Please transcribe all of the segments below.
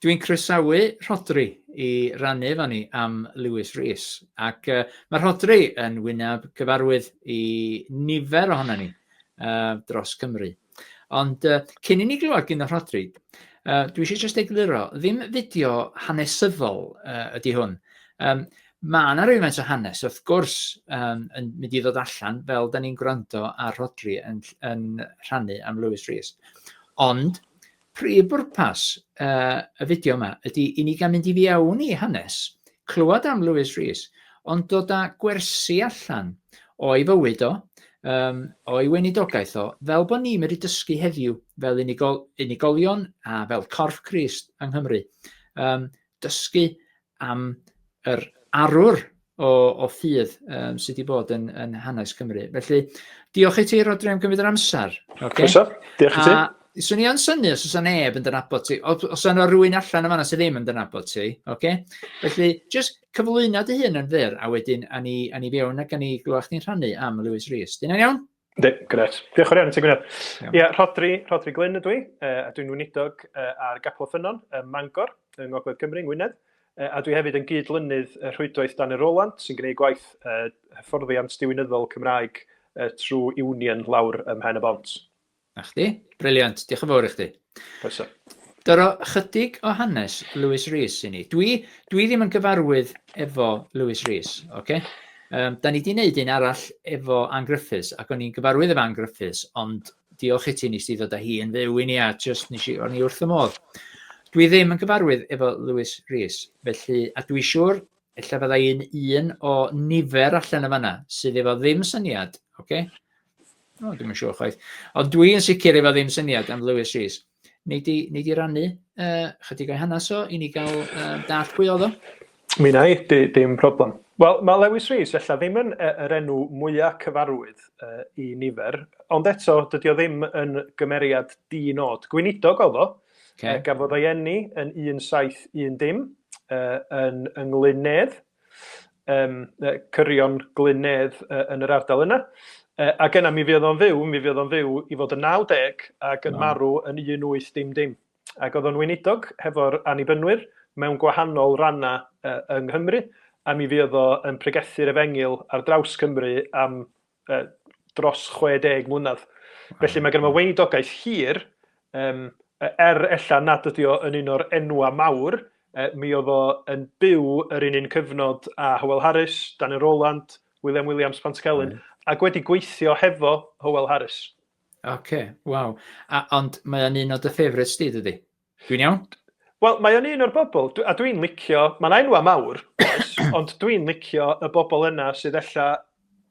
Dwi'n croesawu Rhodri i rannu efo ni am Lewis Rees, ac uh, mae Rhodri yn wyneb gyfarwydd i nifer ohono ni uh, dros Cymru. Ond uh, cyn i ni glywed gyn o Rhodri, uh, dwi eisiau jyst egluro, ddim fideo hanesyddol uh, ydy hwn. Um, Mae yna rywaint o hanes, wrth gwrs, yn mynd i ddod allan fel da ni'n gwrando ar Rhodri yn rhannu am Lewis Rees. Ond prif bwrpas uh, y fideo yma ydy i ni gael mynd i fiewn i hanes, clywed am Lewis Rees, ond dod â gwersi allan o'i fywyd o, um, o'i weinidogaeth o, fel bod ni'n mynd i dysgu heddiw fel unigol, unigolion a fel corff Crist yng Nghymru. Um, dysgu am yr arwr o, o ffydd um, sydd wedi bod yn, yn hanes Cymru. Felly, diolch i ti, Rodri, am gymryd yr amser. Okay? Croeso, diolch i ti. A swn i yn syni os oes neb yn dynabod ti, os yna rwy'n allan yma sydd ddim yn dynabod ti, okay? felly just cyflwyno dy hun yn fyr, a wedyn a ni, a ni fewn ac a ni glywed chdi'n rhannu am Lewis Rees. Dyna'n iawn? Ynddi, gret. Diolch yn fawr iawn i ti, Gwynedd. Ie, yeah, Rhodri, Rhodri Glyn ydw i, uh, a dwi'n weinidog uh, ar Gapel Ffynnon, ym Mangor, yng Ngogledd Cymru, yng Ngwynedd. Uh, a dwi hefyd yn gyd-lynydd y rhwydwaith Dan y Roland, sy'n gwneud gwaith uh, hyfforddiant diwinyddol Cymraeg uh, trwy Union lawr ym Mhen y Bont. Na chdi, briliant, diolch yn fawr i chdi. Croeso. Doro chydig o hanes Lewis Rees i ni. Dwi, dwi ddim yn gyfarwydd efo Lewis Rees, oce? Okay? Um, da ni di wneud un arall efo Ann Griffiths, ac o'n i'n gyfarwydd efo Ann Griffiths, ond diolch i ti nes di ddod â hi yn fyw i ni, a just nes i, o'n i wrth y modd. Dwi ddim yn gyfarwydd efo Lewis Rees, felly, a dwi siŵr, ella fydda i'n un o nifer allan y fanna, sydd efo ddim syniad, oce? Okay? O, dwi'n siŵr chwaith. Ond dwi'n sicr efo ddim syniad am Lewis Rees. Nei di, nei di rannu uh, chydig o'i hanes o i ni gael uh, dall pwy oedd o? Mi na i, di, dim problem. Wel, mae Lewis Rees efallai ddim yn uh, yr enw mwyaf cyfarwydd uh, i nifer, ond eto, dydy o ddim yn gymeriad di-nod. Gweinidog oedd o, okay. uh, gafodd ei enni yn 1710 uh, yn, yn Nglyn Nedd, um, cyrion glynedd uh, yn yr ardal yna. Uh, a genna mi fydd o'n fyw, mi fydd o'n fyw i fod yn 90 ac yn marw yn 18 dim dim. Ac oedd o'n weinidog hefo'r anibynwyr mewn gwahanol rannau uh, yng Nghymru, a mi fydd o yn pregethu'r efengil ar draws Cymru am uh, dros 60 mlynedd. Felly mae gen i weinidogaeth hir, um, er ella nad ydi o yn un o'r enwa mawr, uh, mi oedd o yn byw yr un un cyfnod a Howell Harris, Daniel Rowland, William Williams, Pantycelyn, mm. ac wedi gweithio hefo Howell Harris. Oce, okay, waw. Ond mae'n un o dy ffefryd sti, dydy? Dwi'n iawn. Wel, mae o'n un o'r bobl, a dwi'n licio, mae'n enwa mawr, ond dwi'n licio y bobl yna sydd ella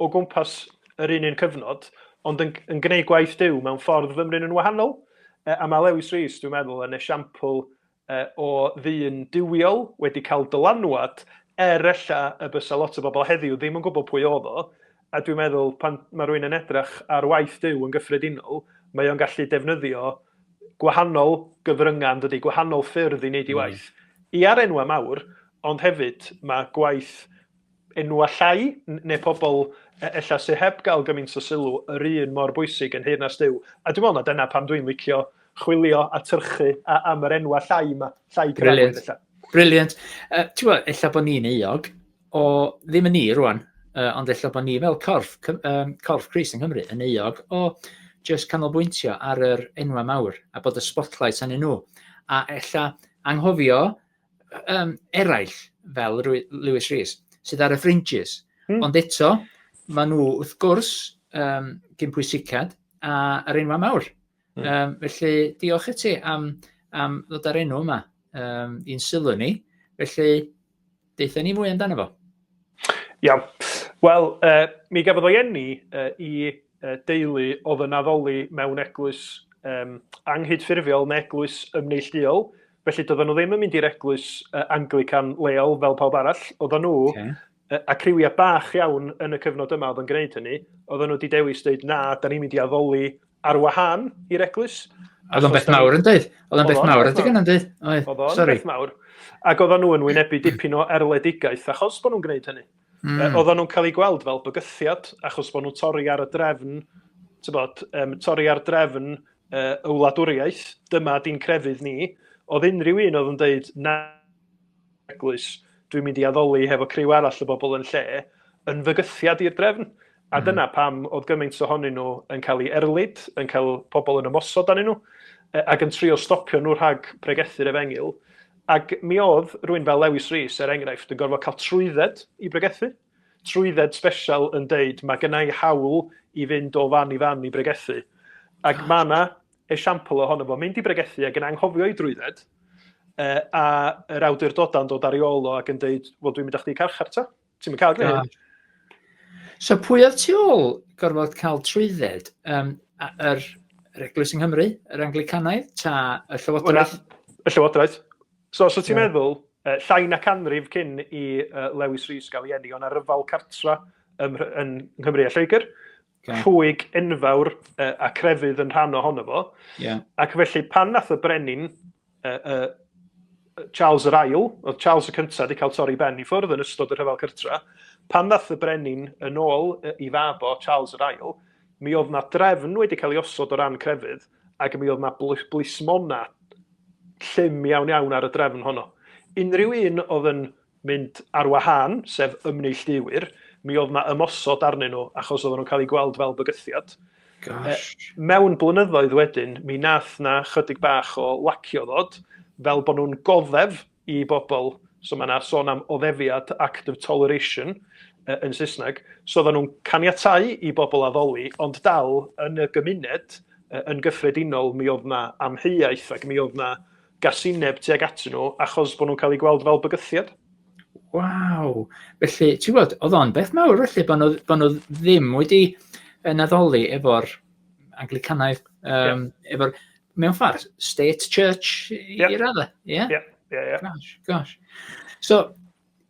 o gwmpas yr un un cyfnod, ond yn, yn gwneud gwaith diw mewn ffordd fymryn yn wahanol. E, a mae Lewis Rees, dwi'n meddwl, yn esiampl e, o ddyn diwiol wedi cael dylanwad er ella y bysa lot o bobl heddiw ddim yn gwybod pwy oedd o, A dwi'n meddwl, pan mae rhywun yn edrych ar waith Duw yn gyffredinol, mae o'n gallu defnyddio gwahanol gyfryngau, yndydi, gwahanol ffyrdd i wneud ei waith. Mm. I ar enwau mawr, ond hefyd mae gwaith enwau llai, neu pobl e, ella sydd heb gael gymaint o sylw, yr un mor bwysig yn Heyrnas Duw. A dwi'n meddwl na dyna pam dwi'n licio chwilio a tyrchu a, am yr enwau llai yma, llai cyfarwydd ella. Brilliant. Uh, Ti'n gwybod, ella bod ni'n euog, o ddim yn ni rwan, uh, ond efallai bod ni fel corff, um, corff Cris yng Nghymru yn euog o just canolbwyntio ar yr enwau mawr a bod y spotlight yn nhw. A ella anghofio um, eraill fel Lewis Rees sydd ar y fringes. Hmm. Ond eto, maen nhw wrth gwrs um, gyn pwysicad a'r enwau mawr. Mm. Um, felly, diolch i ti am, am ddod ar enw yma um, i'n sylw ni. Felly, deitha ni mwy amdano fo. Iawn. Wel, uh, mi gafodd o'i enni uh, i uh, deulu oedd yn addoli mewn eglwys um, anghydffurfiol neu eglwys ymneillduol. Felly, doedden nhw ddim yn mynd i'r eglwys uh, Anglican leol fel pawb arall. Oedden nhw okay. A criwiau bach iawn yn y cyfnod yma oedd yn gwneud hynny, oedden nhw wedi dewis dweud na, da ni'n mynd i addoli ar wahân i'r eglwys. Oedd o'n beth mawr yn dweud? Oedd o'n beth mawr ydy gynnau'n dweud? Oedd o'n beth mawr. Ac oedden nhw yn wynebu dipyn o erledigaeth achos bod nhw'n gwneud hynny. Mm. Oedden nhw'n cael eu gweld fel bygythiad achos bod nhw'n torri ar y drefn, bod, um, torri ar drefn uh, y wladwriaeth, dyma di'n crefydd ni, oedd unrhyw un oedd yn dweud na eglwys, dwi'n mynd i addoli hefo criw arall o bobl yn lle, yn fygythiad i'r drefn. A mm. dyna pam oedd gymaint ohonyn nhw yn cael ei erlid, yn cael pobl yn ymosod arnyn nhw, e, ac yn trio stopio nhw rhag pregethu'r efengil. Ac mi oedd rwy'n fel Lewis Rees, er enghraifft, yn gorfod cael trwydded i bregethu. Trwydded special yn deud, mae gennau hawl i fynd o fan i fan i bregethu. Ac mae yna esiampl ohono fo, mynd i bregethu ac yn anghofio'i drwydded, e, a yr awdurdodau yn dod ar ei ôl o ac yn dweud, wel dwi'n mynd â chdi i carchar ta. Ti'n mynd cael gwneud hyn. So pwy oedd tu ôl gorfod cael trwydded? Um, yr, yr Eglwys yng Nghymru, yr Anglicanaidd, ta y Llywodraeth? y Llywodraeth. So, so ti'n yeah. meddwl, uh, llai na canrif cyn i uh, Lewis Rhys gael ei enni, o'n arryfal cartra ym, yn Nghymru a Lloegr, Okay. Rhwyg enfawr uh, a crefydd yn rhan ohono fo. Yeah. Ac felly pan nath y brenin uh, uh, Charles yr Ail, oedd Charles y cyntaf wedi cael torri ben i ffwrdd yn ystod y rhyfel cyrtra, pan nath y brenin yn ôl uh, i fab o Charles yr Ail, mi oedd na drefn wedi cael ei osod o ran crefydd ac mi oedd na blismona llym iawn iawn ar y drefn honno. Unrhyw un oedd yn mynd ar wahân, sef ymneillduwyr, mi oedd 'na ymosod arnyn nhw achos oedden nhw'n cael eu gweld fel bygythiad. Gosh. Mewn blynyddoedd wedyn, mi nath 'na chydig bach o lacio ddod, fel bod nhw'n goddef i bobl, so mae 'na sôn am oddefiad, act of toleration, yn Saesneg, so oedden nhw'n caniatau i bobl addoli, ond dal, yn y gymuned, yn gyffredinol, mi oedd 'na amheuaeth ac mi oedd 'na gasineb tuag atyn nhw achos bod nhw'n cael eu gweld fel bygythiad. Waw! Felly, ti'n gwybod, oedd o'n beth mawr felly, bod nhw, bod nhw ddim wedi yn addoli efo'r Anglicanau, um, yeah. efo'r, mewn ffordd, state church yeah. i raddau. Ie? Yeah? Yeah. Yeah, yeah. Gosh, gosh. So,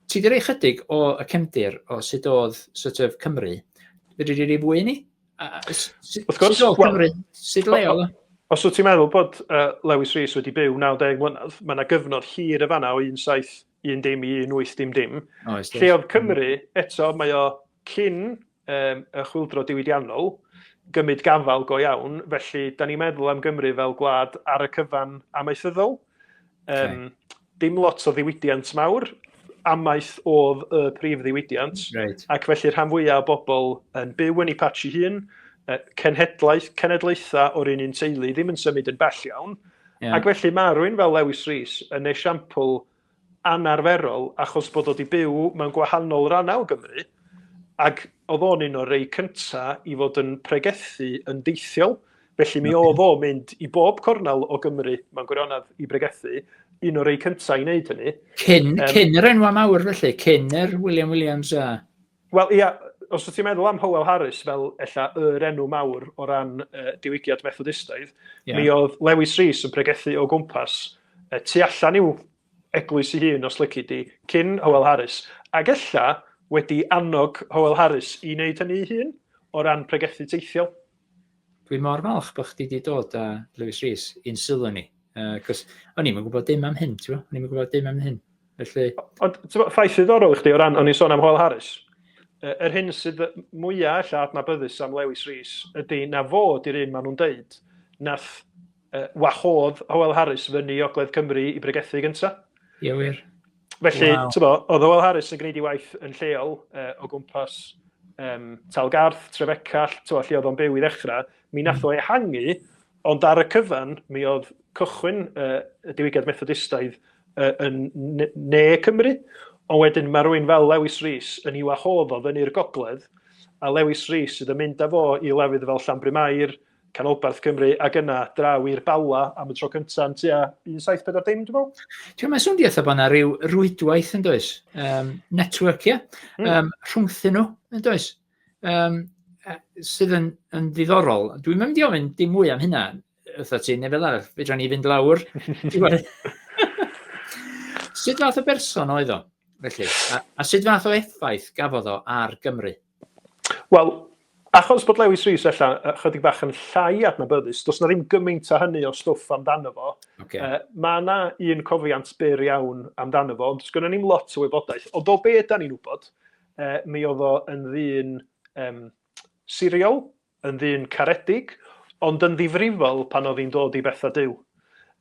ti wedi rhoi chydig o y cefndir o sut oedd sort of Cymru. Fyddi di wedi fwy ni? Wrth gwrs, sut Cymru, sut leol? Os wyt ti'n meddwl bod uh, Lewis Rees wedi byw 90 mlynedd, mae yna gyfnod hir y fanna o 17 dim i 18 dim dim. Oes, Lle oedd Cymru, eto, mae o cyn um, y chwildro diwydiannol, gymryd gafal go iawn, felly da ni'n meddwl am Gymru fel gwlad ar y cyfan amaethyddol. Um, okay. Dim lot o ddiwydiant mawr, amaeth oedd y prif ddiwydiant, right. ac felly rhan fwyaf o bobl yn byw yn ei patch i hun, cenhedlaeth, cenedlaethau o'r un un teulu ddim yn symud yn bell iawn, yeah. ac felly mae rwy'n fel Lewis Rees yn esiampl anarferol achos bod o 'di byw mewn gwahanol rannau o Gymru ac oedd o'n un o'r rei cynta i fod yn pregethu yn deithiol. Felly mi oedd o mynd i bob cornel o Gymru mewn gwirionedd i bregethu, un o'r rei cynta i wneud hynny. Cyn, um, cyn yr enwa mawr felly, cyn yr William Williams a... Wel, ia, os wyt ti'n meddwl am Howell Harris fel ella yr enw mawr o ran uh, diwygiad Methodistaidd, yeah. mi oedd Lewis Rees yn pregethu o gwmpas uh, tu allan i'w eglwys i hun, os lyci di, cyn Howell Harris, ac ella wedi annog Howell Harris i wneud hynny ei hun o ran pregethu teithiol. Dwi mor falch bod chdi wedi dod â Lewis Rees i'n sylw ni. Uh, cos o'n i'n gwybod dim am hyn, ti'n O'n i'n gwybod dim am hyn. Felly... Ond, ti'n ffaith ddiddorol i chdi o ran, o'n i'n sôn am Hoel Harris. Yr er hyn sydd mwyaf allan adnabyddus am Lewis Rees ydy na fo di'r un maen nhw'n deud nath uh, wahodd Howell Harris fyny i Ogledd Cymru i bregethu gyntaf. Ie, wir. Felly, wow. ti'n bod, oedd Hywel Harris yn gwneud ei waith yn lleol uh, o gwmpas um, Talgarth, Trefecall, ti'n bod, lle oedd o'n byw i ddechrau, mi nath hmm. o ehangu, ond ar y cyfan, mi oedd cychwyn uh, y diwygiad methodistaidd uh, yn ne, ne Cymru, ond wedyn mae rwy'n fel Lewis Rhys yn i'w wahodd o fyny'r gogledd, a Lewis Rhys sydd yn mynd â fo i lefydd fel Llanbry Mair, Canolbarth Cymru ac yna draw i'r Bala am y tro cynta yn tua 1740 dwi'n meddwl. Ti'n mae'n swndio eitha bod yna rhyw rwydwaith yn does, um, network, ie, mm. um, rhwngthyn nhw yn does, um, sydd yn, yn ddiddorol. Dwi'n mynd i ofyn dim mwy am hynna, ytho ti, neu fel arall, fedra ni fynd lawr. sut fath o berson oedd o, felly, a, a sut fath o effaith gafodd o ar Gymru? Wel, achos bod Lewis Rees ella ychydig bach yn llai adnabyddus, does na ddim gymaint o hynny o stwff amdano fo. Okay. Uh, mae yna un cofiant byr iawn amdano fo, ond does gynnu ni'n lot o wybodaeth. Ond o be yda ni'n wybod, uh, mi oedd o yn ddyn um, siriol, yn ddyn caredig, ond yn ddifrifol pan oedd hi'n dod i bethau Duw,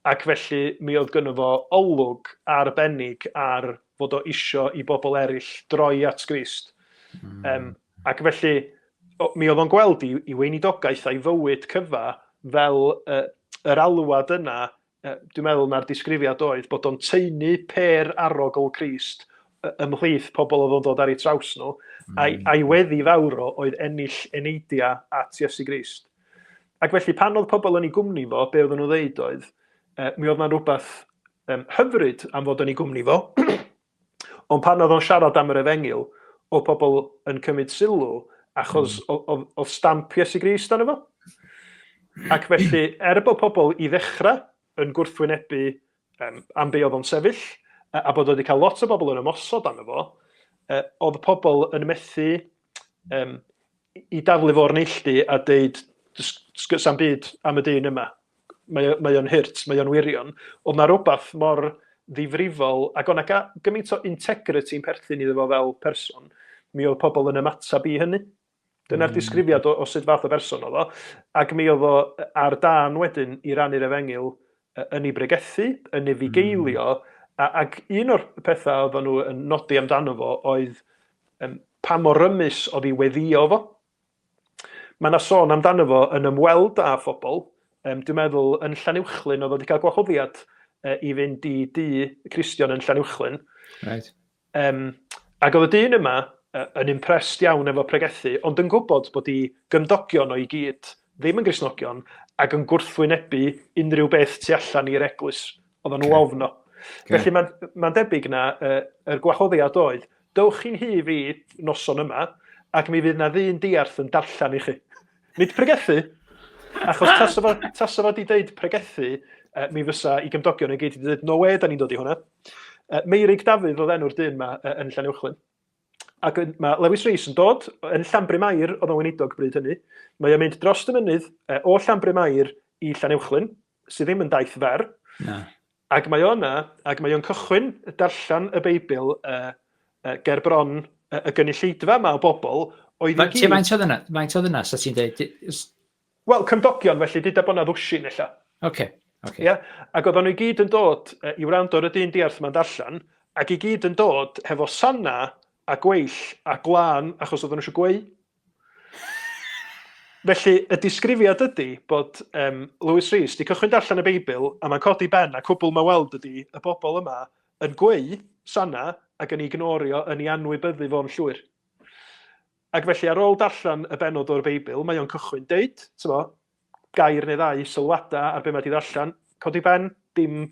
ac felly mi oedd gynno fo olwg arbennig ar fod o isio i bobl eraill droi at Grist. Mm. Um, ac felly, mi oedd o'n gweld i, i weinidogaeth a'i fywyd cyfa fel uh, yr alwad yna Dwi'n meddwl na'r disgrifiad oedd bod o'n taenu pêr arogl Crist ymhlith pobl oedd o'n dod ar eu traws nhw, a'i, mm. a'i weddi fawr o oedd ennill eneidiau at Iesu Grist. Ac felly pan oedd pobl yn ei gwmni fo, be oedden nhw'n ddeud oedd, e, mi oedd na'n rhywbeth um, hyfryd am fod yn ei gwmni fo, Ond pan oedd o'n siarad am yr efengyl, oedd pobl yn cymryd sylw achos oedd stamp Iesu Grist arno fo. Ac felly, er bod pobl i ddechrau yn gwrthwynebu um, am be oedd o'n sefyll, a bod wedi cael lot o bobl yn ymosod arno fo, oedd pobl yn methu um, i daflu fo o'r neilltu a deud sa'm byd am y dyn yma. Mae, mae o'n hurt, mae o'n wirion. Oedd na rhywbeth mor ddifrifol, ac o'na ga, gymaint o integrity yn perthyn iddo fo fel person, mi oedd pobl yn ymateb i hynny. Dyna'r mm. disgrifiad o, o sut fath o berson oedd o. Ac mi oedd o ar dan wedyn i rannu'r efengyl yn ei bregethu, yn ei fugeilio, a, ac un o'r pethau oedden nhw yn nodi amdano fo oedd um, pa mor rymus oedd ei weddio fo. Mae yna sôn amdano fo yn ymweld â phobl, um, dwi'n meddwl yn Llanuwchlyn oedd wedi cael gwahoddiad uh, i fynd i du Cristion yn Llanuwchlyn. Right. Yym, ac oedd y dyn yma yn impressed iawn efo pregethu, ond yn gwybod bod i gymdogion o i gyd, ddim yn grisnogion, ac yn gwrthwynebu unrhyw beth tu allan i'r eglwys, oedd nhw okay. ofno. Okay. Felly mae'n ma debyg na uh, yr gwahoddiad oedd, dywch chi'n hi fi noson yma, ac mi fydd na ddyn diarth yn darllen i chi. Nid pregethu, achos tas o fod i ddeud pregethu, uh, mi fysa i gymdogion yn gyd i ddeud, no way, da ni'n dod i hwnna. Yy Meurig Dafydd oedd enw'r dyn 'ma yy yn Llanuwchllyn. Ac yn- ma' Lewis Rees yn dod yn Llanbrym Aur, oedd o'n weinidog bryd hynny. Mae o'n mynd drost y mynydd yy o Llanbrym Aur i Llanuwchllyn, sy ddim yn daith fer. Na. Ac mae o yna, ac mae o'n cychwyn darllen y Beibl yy yy ger bron y, y gynulleidfa 'ma o bobl oedd i Fa- Lle gyd... faint oedd yna? Faint oedd yna, sa ti'n dweud? Wel, cymdogion, felly, deuda bod 'na ddwsin ella. Ocê, ocê. Ia? Ac oeddan nhw i gyd yn dod i wrando ar y dyn diarth 'ma'n darllen, ac i gyd yn dod hefo sana a gweill a gwlân achos oeddan nhw isio gweu'. Felly, y disgrifiad ydi bod um, Lewis Rees 'di cychwyn darllen y Beibl a mae'n codi ben a cwbl mae weld ydi y bobl yma yn gweu' sana ac yn ei gnorio yn ei anwybyddu fo'n llwyr. Ac felly, ar ôl darllen y bennod o'r Beibl, mae o'n cychwyn deud, t'mo', gair neu ddau, sylwada ar be' mae 'di ddarllen, codi pen, dim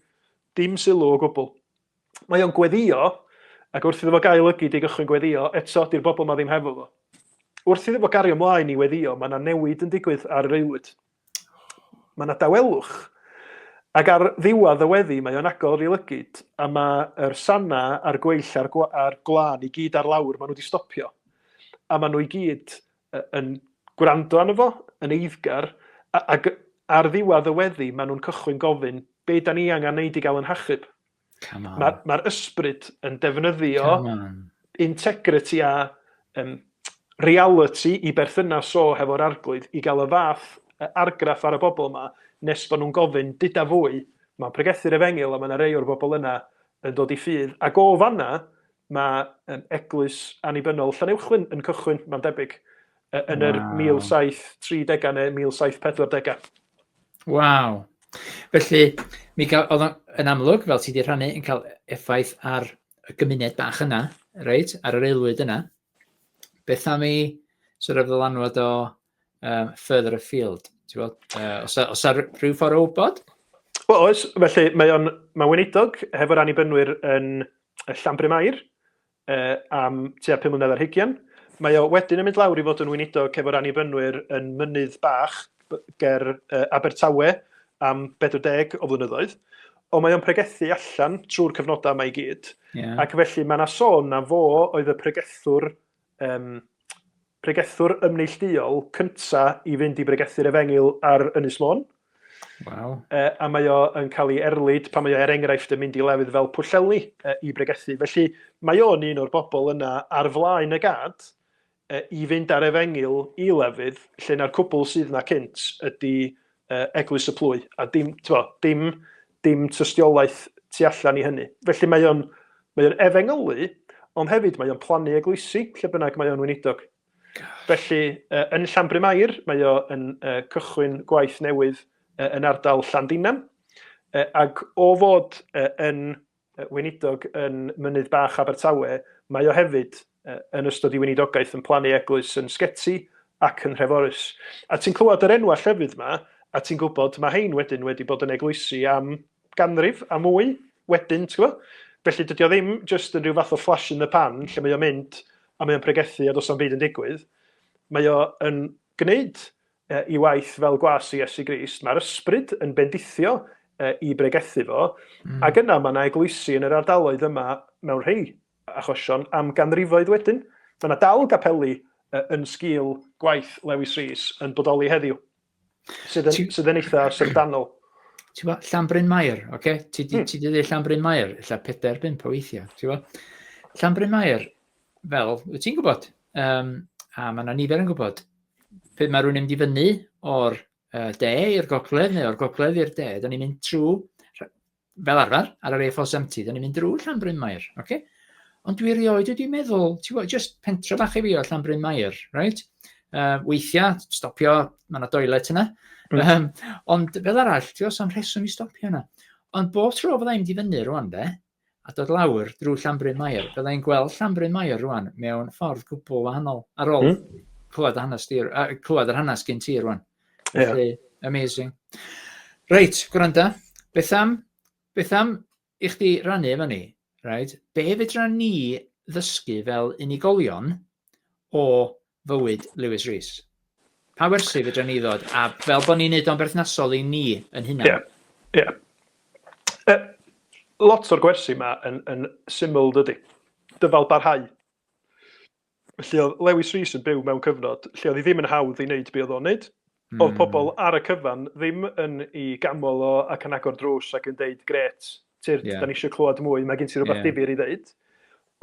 dim sylw o gwbl. Mae o'n gweddio, ac wrth iddo fo gael lygid i gychwyn gweddio, eto, 'di'r bobl 'ma ddim hefo fo. Wrth iddo fo gario mlaen i weddio, mae 'na newid yn digwydd ar yr aelwyd. Mae 'na dawelwch. Ac ar ddiwedd y weddi mae o'n agor i lygud a mae yr sana a'r gweill a'r a'r gwlân i gyd ar lawr, mae nhw 'di stopio. A mae nhw i gyd yn gwrando arno fo, yn eiddgar, ac ar ddiwedd y weddi mae nhw'n cychwyn gofyn, 'Be 'da ni angen 'neud i gael 'yn hachub? Mae'r ma ysbryd yn defnyddio integrity a um, reality i berthynas o hefo'r arglwydd i gael y fath argraff ar y bobl yma nes bod nhw'n gofyn dyda fwy. Mae'n pregethu'r efengil a mae yna rei o'r bobl yna yn dod i ffydd. Ac o fanna, Mae yym eglwys annibynnol Llanuwchllyn yn cychwyn, mae'n debyg, yy yn yr Waw. 1730au neu 1740au. Waw. Felly, mi ga- oedd o'n yn amlwg, fel ti 'di rhannu, yn cael effaith ar y gymuned bach yna, reit, ar yr aelwyd yna. Beth am 'i sort of ddylanwad o um, further afield. Ti'n bod? Uh, os, os ar rhyw ffordd o wybod? Wel, oes. Felly, mae o'n mae weinidog hefo'r annibynnwyr yn y Llambri Mair uh, am tua 5 mlynedd ar hugian. Mae o wedyn yn mynd lawr i fod yn weinidog hefo'r annibynnwyr yn mynydd bach ger uh, Abertawe am 40 o flynyddoedd. Ond mae o'n pregethu allan trwy'r cyfnodau yma i gyd. Yeah. Ac felly mae yna sôn na fo oedd y pregethwr Ym pregethwr ymneillduol cynta i fynd i bregethu'r Efengyl ar Ynys Môn. Waw. Uh, a mae o yn cael ei erlid pan mae o er enghraifft yn mynd i lefydd fel Pwllheli uh, i bregethu. Felly mae o'n un o'r bobl yna ar flaen y gad uh, i fynd ar efengyl i lefydd lle na'r cwbl sydd na cynt ydy Eglwys y Plwy, a dim, t'mod, dim, dim tystiolaeth tu allan i hynny. Felly mae o'n, mae o'n efengylu, ond hefyd mae o'n plannu eglwysi lle bynnag mae o'n weinidog. Felly, uh, yn Llanbrym Air, mae o yn uh, cychwyn gwaith newydd uh, yn ardal Llandinam, uh, ac o fod uh, yn Weinidog yn Mynydd Bach Abertawe, mae o hefyd, yn ystod ei weinidogaeth, yn plannu eglwys yn Sgeti ac yn Nhreforys. A ti'n clywed yr enwau llefydd 'ma, a ti'n gwybod, mae hein wedyn wedi bod yn eglwysi am ganrif a mwy wedyn, ti'n gwybod? Felly dydy o ddim jyst yn rhyw fath o flash in the pan lle mae o'n mynd a mae o'n pregethu a does na'm byd yn digwydd. Mae o yn gwneud ei waith fel gwas i Iesu Grist, mae'r ysbryd yn bendithio i bregethu fo, ac yna mae yna eglwysi yn yr ardaloedd yma mewn rhei achosion am ganrifoedd wedyn. Mae yna dal gapeli yn sgil gwaith Lewis Rees yn bodoli heddiw, sydd yn, sydd yn eitha syfrdanol. Ti'n gwybod, Llanbryn Mair, oce? Okay? Ti di, hmm. ti di ddeud Llanbryn Mair, illa pedair, bimp o weithiau, ti'n gwybod? Llanbryn Mair, fel, wyt ti'n gwybod, um, a mae yna nifer yn gwybod, pryd mae rhywun yn mynd i fyny o'r uh, de i'r gogledd neu o'r gogledd i'r de, da ni'n mynd trwy, fel arfer, ar yr A470, da ni'n mynd drwy Llanbryn Mair, oce? Okay? Ond dwi rioed wedi meddwl, ti'n gwybod, just pentra bach i fi o Llanbryn Mair, right? Uh, weithiau, stopio, mae yna doilet yna. Mm. Um, ond fel arall, ti'n gwybod, sa'n rheswm i stopio yna. Ond bob tro fydda i'n mynd i fyny rwan, de, a dod lawr drwy Llanbryn Mair. Fydda i'n gweld Llanbryn Mair rwan mewn ffordd gwbl wahanol ar ôl mm. clywed, hanes di, uh, clywed yr hanes gyn ti rwan. Felly, yeah. amazing. Reit, gwranda, beth am, beth am i chdi rannu efo ni, right? be fedra ni ddysgu fel unigolion o fywyd Lewis Rees. Pa wersi fedra ni ddod, a fel bod ni'n neud o'n berthnasol i ni yn hunan? Ie, ie. Yy, lot o'r gwersi yma yn, yn syml, dydy? Dyfalbarhau. Felly oedd Lewis Rees yn byw mewn cyfnod lle oedd hi ddim yn hawdd i wneud be oedd o'n wneud, Oedd pobl ar y cyfan ddim yn ei ganmol o ac yn agor drws ac yn deud 'grêt, Tyrd, da ni eisiau clywed mwy, mae gen ti rhywbeth difyr i ddeud'.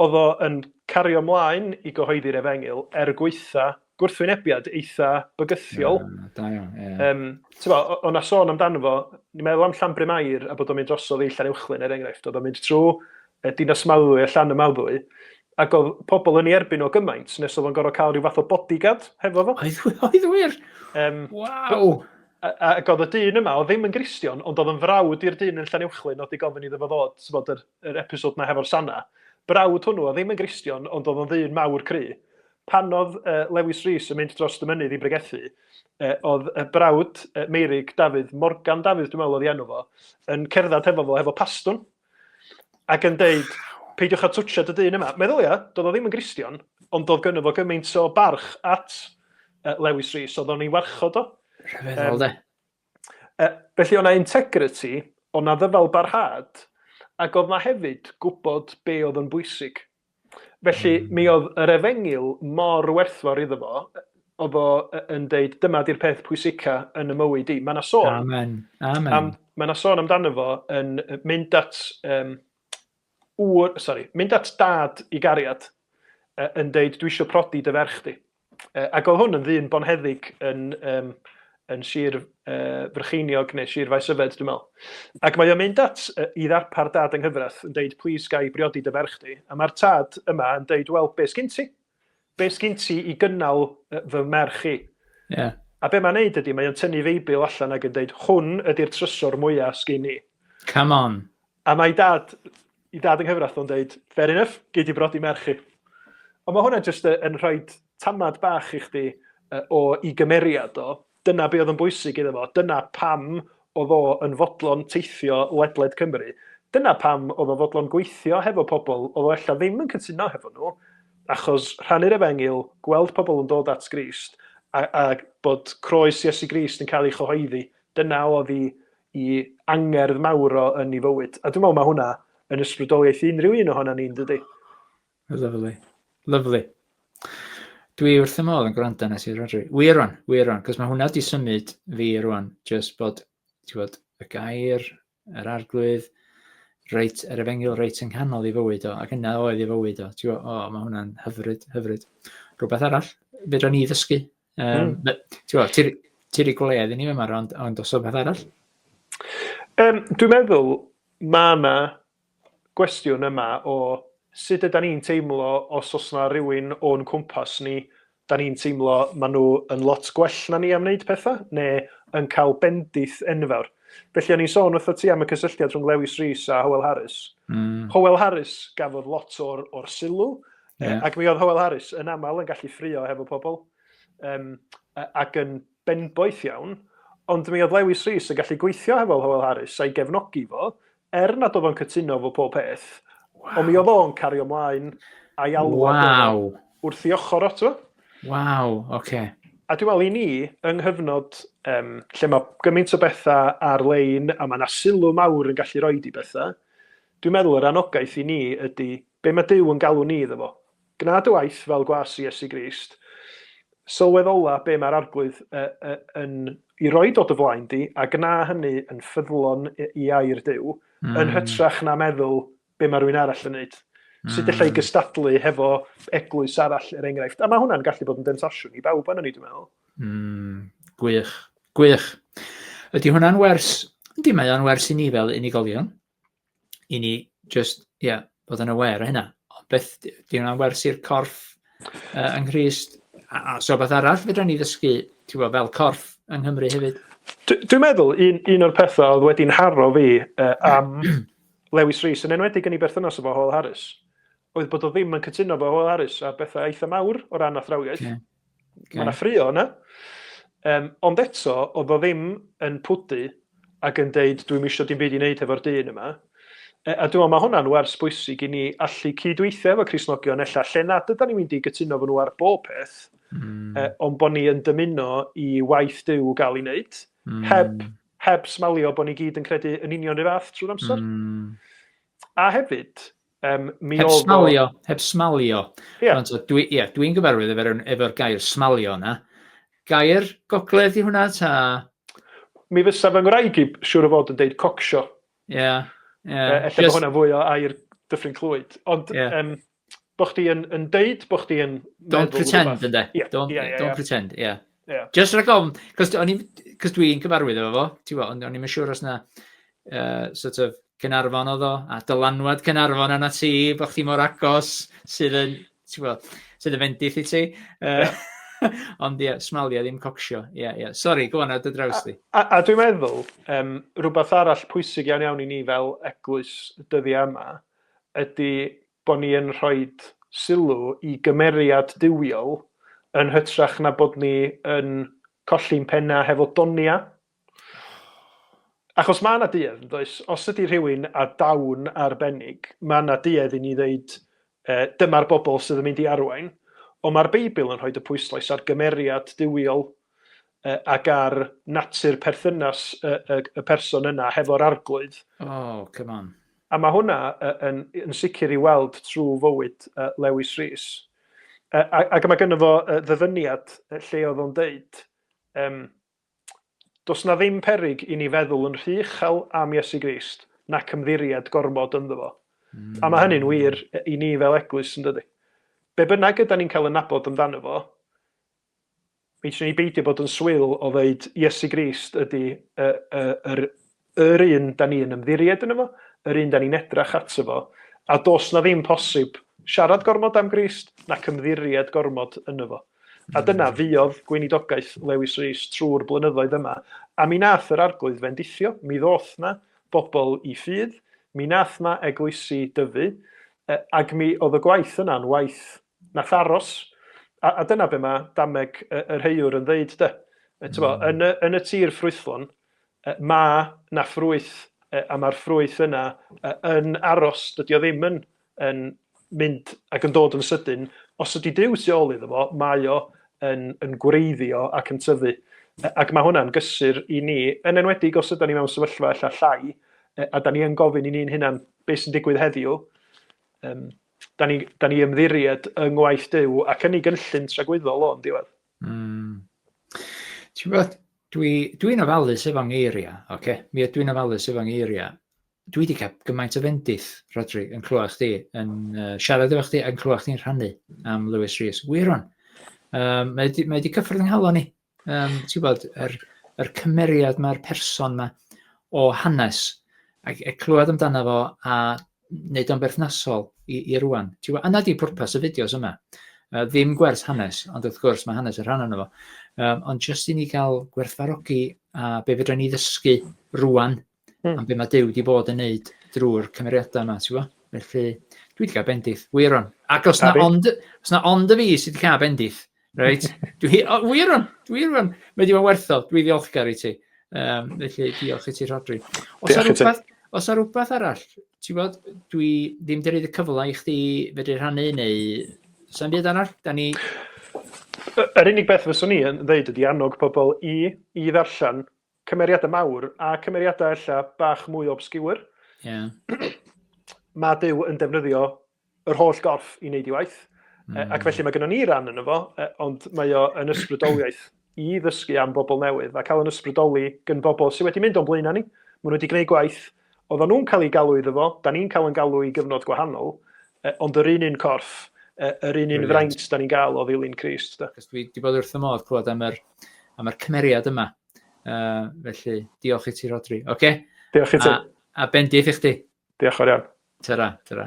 Oedd o yn cario 'mlaen i gyhoeddi'r Efengyl er gwaetha gwrthwynebiad eitha bygythiol. Da iawn, ie. Tibod, oedd 'na sôn amdano fo, ni'n meddwl am Llanbryn Mair a bod o'n mynd drosodd i Llanuwchllyn er enghraifft, oedd o'n mynd trwy Dinas Mawddwy a Llanymawddwy, Ac oedd pobl yn ei erbyn o gymaint, nes oedd o'n gorfod cael rhyw fath o bodyguard hefo fo. Oedd, oedd wir? Um, Waw! Ac oedd y dyn yma, oedd ddim yn gristion, ond oedd yn frawd i'r dyn yn Llanuwchllyn, oedd di gofyn iddo fo ddod, bod yr, yr episod na hefo'r Sanna. Brawd hwnnw, oedd ddim yn gristion, ond oedd o'n ddyn mawr cry. Pan oedd uh, Lewis Rees yn mynd dros y mynydd i bregethu, uh, oedd y brawd uh, Meirig Dafydd, Morgan Dafydd, dwi'n meddwl oedd i enw fo, yn cerdded hefo fo, hefo pastwn, Ac yn deud, peidiwch â twtio dy dyn yma. Meddylia, doedd o ddim yn Gristion, ond doedd gynno fo gymaint o barch at uh, Lewis Rees, oedd o'n ei warchod o. Rhyfeddol, um, de. Uh, felly o'na integrity, o'na ddyfal barhad, ac oedd na hefyd gwybod be oedd yn bwysig. Felly, mi oedd yr efengyl mor werthfawr iddo fo, oedd o yn deud, dyma di'r peth pwysica yn y mywyd i. Mae yna sôn... Amen. Amen. Am, mae yna sôn amdano fo yn mynd at... Um, ŵr, sorry, mynd at dad i gariad yn deud, dwi eisiau prodi dy ferch di. Yy ac oedd hwn yn ddyn bonheddig yn um, yn Sir uh, Frycheiniog neu Sir Faes Yfed, dwi'n meddwl. Ac mae o'n mynd at uh, i ddarpar dad yng nghyfraith yn deud, please gai briodi dy ferch di. A mae'r tad yma yn deud, wel, be sgyn ti? Be sgyn ti i gynnal uh, fy merch i? Yeah. A be mae'n neud ydy, mae o'n tynnu feibl allan ac yn deud, hwn ydy'r trysor mwyaf sgyn i. Come on. A mae dad, i dad yng nghyfraith o'n deud, fair enough, gei di brodi merch chi. Ond mae hwnna jyst yn rhoi tamad bach i chdi o i gymeriad o. Dyna be oedd yn bwysig iddo fo. Dyna pam oedd o yn fodlon teithio ledled Cymru. Dyna pam oedd o fodlon gweithio hefo pobl oedd o ella ddim yn cytuno hefo nhw, achos rhannu'r efengyl, gweld pobl yn dod at Grist, a, a bod croes Iesu Grist yn cael ei chyhoeddi, dyna oedd i, i angerdd mawr o yn ei fywyd. A dwi'n meddwl mae hwnna yn ysbrydoliaeth i unrhyw un ohono ni'n dydy. Lovely. Lovely. Dwi wrth y modd yn gwrando nes i Rodri. Wir rwan, wir rwan, cos mae hwnna wedi symud fi rwan, just bod, ti bod, y gair, yr arglwydd, reit, yr efengil reit yng nghanol i fywyd o, ac yna oedd i fywyd o. Ti bod, o, mae hwnna'n hyfryd, hyfryd. Rhywbeth arall, fedra ni ddysgu Um, mm. Ti'n ti, ti wedi gwledd i ni yma, ond, ond os o beth arall? Um, dwi'n meddwl mae yna gwestiwn yma o sut yda ni'n teimlo os os yna rhywun o'n cwmpas ni, da ni'n teimlo maen nhw yn lot gwell na ni am wneud pethau, neu yn cael bendith enfawr. Felly o'n i'n sôn wrth o ti am y cysylltiad rhwng Lewis Rees a Howell Harris. Mm. Howell Harris gafodd lot o'r, or sylw, Yeah. Ac mi oedd Howell Harris yn aml yn gallu ffrio hefo pobl, um, ac yn benboeth iawn, ond mi oedd Lewis Rees yn gallu gweithio hefo Howell Harris a'i gefnogi fo, er nad oedd o'n cytuno fo pob peth, wow. ond mi oedd o'n cario mlaen a'i alwad wow. wrth i ochr o, ti'n Waw, oce. Okay. A dwi'n meddwl i ni, yng nghyfnod um, lle mae gymaint o bethau ar-lein a mae yna sylw mawr yn gallu rhoi di bethau, Dwi'n meddwl yr anogaeth i ni ydy be mae Duw yn galw ni iddo fo. Gwna dy waith fel gwas i Iesu Grist. Sylweddola be mae'r Arglwydd yn i roid o dy flaen di a gwna hynny yn ffyddlon i air Duw, yn hytrach na meddwl be mae rhywun arall yn neud. Sut ella i gystadlu hefo eglwys arall, er enghraifft. A mae hwnna'n gallu bod yn demtasiwn i bawb arno ni, dwi'n meddwl. Mm, gwych, gwych. Ydy hwnna'n wers? Ydy, mae o'n wers i ni fel unigolion. i ni just, ie, yeah, bod yn aware o hynna. Ond beth, di hwnna'n wers i'r corff uh, yng Nghyrs? A, a so beth arall fydra ni ddysgu, ti'n gwybod, fel corff yng Nghymru hefyd? Dwi'n meddwl, un, un o'r pethau oedd wedi'n harro fi uh, am Lewis Rees, yn enwedig yn ei berthynas efo Howell Harris, oedd bod o ddim yn cytuno efo Howell Harris a bethau eitha mawr o ran athrawiaeth. Yeah. Okay. Mae yna ffrio yna. Um, ond eto, oedd o ddim yn pwdu ac yn deud, dwi'n misio dim byd i wneud hefo'r dyn yma. E, a dwi'n meddwl mae hwnna'n wers bwysig i ni allu cydweithio efo Crisnogion ella lle nad yda ni'n mynd i gytuno fy nhw ar bob peth, mm. e, ond bod ni yn dymuno i waith dyw gael ei wneud, mm. heb, heb smalio bod ni gyd yn credu yn union rhyw fath trwy'r amser. Mm. A hefyd, Um, mi heb smalio, o... heb smalio. Yeah. Ond dwi, yeah, dwi'n gyfarwydd efo'r efo gair smalio yna. Gair gogledd i hwnna ta? Mi fysa fy ngwraig i siwr o fod yn deud cocsio. Ie. Yeah, yeah. Efallai Just... bod hwnna fwy o air dyffryn clwyd. Ond yeah. um, bo chdi yn, yn deud bo chdi yn... Don't pretend, ynddo. Yeah, don't, yeah, yeah, don't yeah. pretend, ie. Yeah. Yeah. Just rhag ofn, cos dwi'n cyfarwydd efo fo, ti'n fo, ond o'n i'n siŵr os na uh, sort of Cynarfon oedd o, a dylanwad Cynarfon yna ti, bod chdi mor agos sydd yn, ti'n fo, sydd yn fendill i ti. Uh, yeah. Ond ie, yeah, smalia ddim cocsio. Ie, yeah, ie. Yeah. Sori, go on, ar dy draws di. A, a, a dwi'n meddwl, um, rhywbeth arall pwysig iawn iawn i ni fel eglwys dyddiau yma, ydy bod ni yn rhoi sylw i gymeriad duwiol yn hytrach na bod ni yn colli'n pennau hefo donia. Achos mae yna duedd, yn does? Os ydy rhywun a dawn arbennig, mae yna duedd i ni ddeud e, dyma'r bobl sydd yn mynd i arwain. Ond mae'r Beibl yn rhoi y pwyslais ar gymeriad duwiol ac ar natur perthynas y, y, y person yna hefo'r arglwydd. Oh, come on. A mae hwnna yn, yn sicr i weld trwy fywyd uh, Lewis Rhys. Uh, ac mae gynnu fo uh, ddyfyniad lle oedd o'n deud, um, Does na ddim perig i ni feddwl yn rhy uchel am Iesu Grist nac ymddiried gormod ynddo fo. Mm. A mae hynny'n wir i ni fel eglwys yn dydy. Be bynnag ydy ni'n cael yn nabod amdano fo, Fedrwn ni beidio bod yn swil o ddeud Iesu Grist ydy y, y, yr, yr un da ni'n ymddiried yn efo, yr un da ni'n edrach ato fo, a dos na ddim posib siarad gormod am Grist nac ymddiried gormod yn efo. A dyna fuodd gweinidogaeth Lewis Rees trwy'r blynyddoedd yma, a mi nath yr Arglwydd fendithio, mi ddoth na bobl i ffydd, mi nath na eglwysi dyfu, ag mi oedd y gwaith yna'n waith Nath aros. A, a dyna be mae dameg y, y rheiwr yn ddeud, de. E, tybo, mm. yn, y, yn y tir ffrwythlon, e, mae na ffrwyth, e, a mae'r ffrwyth yna e, yn aros. Dydy o ddim yn, yn mynd ac yn dod yn sydyn. Os ydy Dyw tu ôl iddo fo, mae o yn, yn gwreiddio ac yn tyfu. Ac mae hwnna'n gysur i ni, yn enwedig os ydym ni mewn sefyllfa ella llai, a da ni yn gofyn i ni'n hunan beth sy'n digwydd heddiw. Um, Da ni, da ni ymddiried yng ngwaith Duw ac yn ei gynllun tragwyddol o'n diwedd. Mm. Ti'n bod, dwi'n dwi, dwi ofalus efo ngeiriau, oce? Okay? Mi ydw i'n ofalus efo ngeiriau. Dwi wedi cael gymaint o fendith, Rodri, yn clywed chdi, yn uh, siarad efo chdi, yn clywed chdi'n rhannu am Lewis Rees. Wyron, um, mae wedi cyffwrdd yng nghalon ni, Yym, ti'n gwybod, yr yr cymeriad 'ma, yr person 'ma o hanes, a a clywed amdano fo a wneud o'n berthnasol i i rŵan. Ti'n gwybod, a 'na 'di pwrpas y fideos yma. Yy ddim gwers hanes, ond wrth gwrs mae hanes yn rhan ohono fo, yym ond jyst i ni gael gwerthfawrogi a be fedra ni ddysgu rŵan Mm. Am beth mae Dyw wedi bod yn neud drwy'r cymeriadau yma, ti'n gwybod? Felly, dwi wedi cael bendith, wir on. Ac os na, ond, os na ond y fi sydd wedi cael bendith, reit? dwi, o, wir on, wir on. Mae wedi bod werthol, dwi ddiolchgar i ti. Um, felly, diolch i ti, Rodri. Os na rhywbeth, os na rhywbeth arall, ti'n bod, dwi ddim wedi rhaid y cyfle i chdi fedru rhannu neu sy'n byd arall, da ni... Yr unig beth fyswn i yn ddeud ydy annog pobl i, i ddarllen cymeriadau mawr a cymeriadau ella bach mwy obscure. Yeah. mae Duw yn defnyddio yr holl gorff i wneud i waith. Mm. Ac felly mae gennym ni ran yn efo, e, ond mae o yn ysbrydoliaeth i ddysgu am bobl newydd a cael yn ysbrydoli gyn bobl sydd wedi mynd o'n blaen ni. Maen nhw wedi gwneud gwaith, oedden nhw'n cael ei galw iddo fo, da ni'n cael yn galw i gyfnod gwahanol, e, ond yr un un corff, e, yr un un fraint da ni'n gael o ddilyn Christ. Dwi wedi bod wrth y modd clywed am yr, am yr cymeriad yma Uh, felly, diolch i ti, Rodri. Oce? Okay? Diolch i ti. A, a bendith i chdi. Diolch o'r iawn. Tyra, tyra.